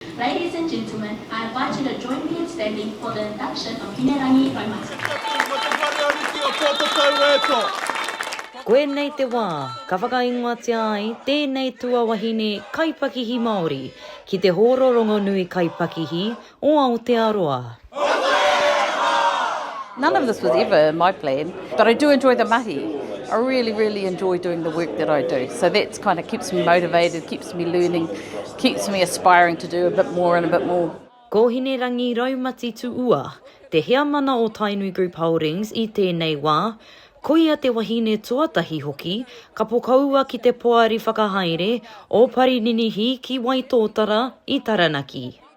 Ladies and gentlemen, I invite you to join me in standing for the induction of Hinerangi Raumati. Koinei te wā ka whakaingoatia ai tēnei tuawahine kaipakihi Māori ki te hōro rongonui kaipakihi o Aotearoa. None of this was ever in my plan, but I do enjoy the mahi. I really, really enjoy doing the work that I do. So that's kind of keeps me motivated, keeps me learning, keeps me aspiring to do a bit more and a bit more. Ko Hinerangi Raumati Tuua, te heamana o Tainui Group Holdings i tēnei wā, koia te wahine tuatahi hoki ka pokaua ki te Poari Whakahaere o Parininihi ki Waitōtara i Taranaki.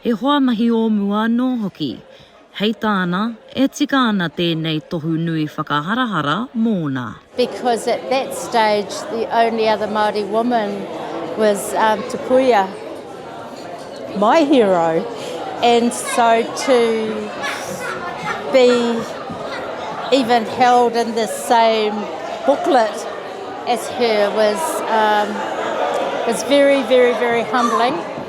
He hoa mahi o mua anō hoki. Hei tāna, e tika ana tēnei tohu nui whakaharahara mōna. Because at that stage the only other Māori woman was Te Puia, my hero, and so to be even held in the same booklet as her was very, very, very humbling.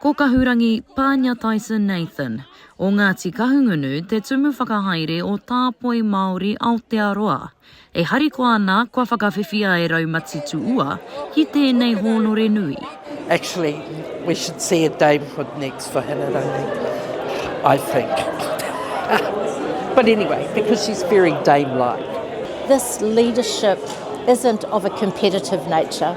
Ko Kahurangi Pāniataisen Nathan, o Ngāti Kahungunu te tumu whakahaere o Tāpoi Māori Aotearoa. E harikoa ana kua whakawhiwhia e Raumati Tuua ki tēnei hōnore nui. Actually we should see a Dame Hood next for Hinerangi I think but anyway because she's very Dame like. This leadership isn't of a competitive nature.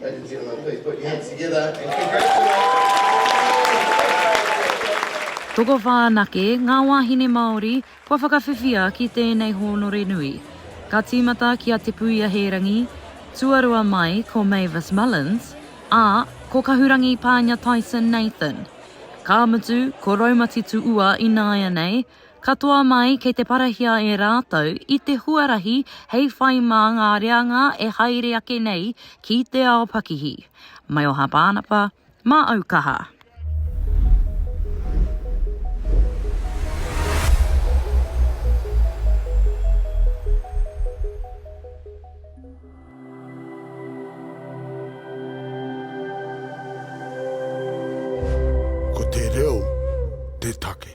Ladies and gentlemen, please put your hands together and congratulate. Tokowhā anake ngā wāhine Māori kua whakawhiwhia ki tēnei hōnore nui. Ka tīmata ki a Te Puia Hērangi, tuarua mai ko Mavis Mullins, ā, ko Kahurangi Pānia Tyson Nathan. Ka mutu, ko Raumati Tuua ināianei, Katoa mai kei te parahia e rātou i te huarahi hei whai mā ngā reanga e haere ake nei ki te ao pakihi. Maioha Pānapa, mā au kaha. Ko te reo te take.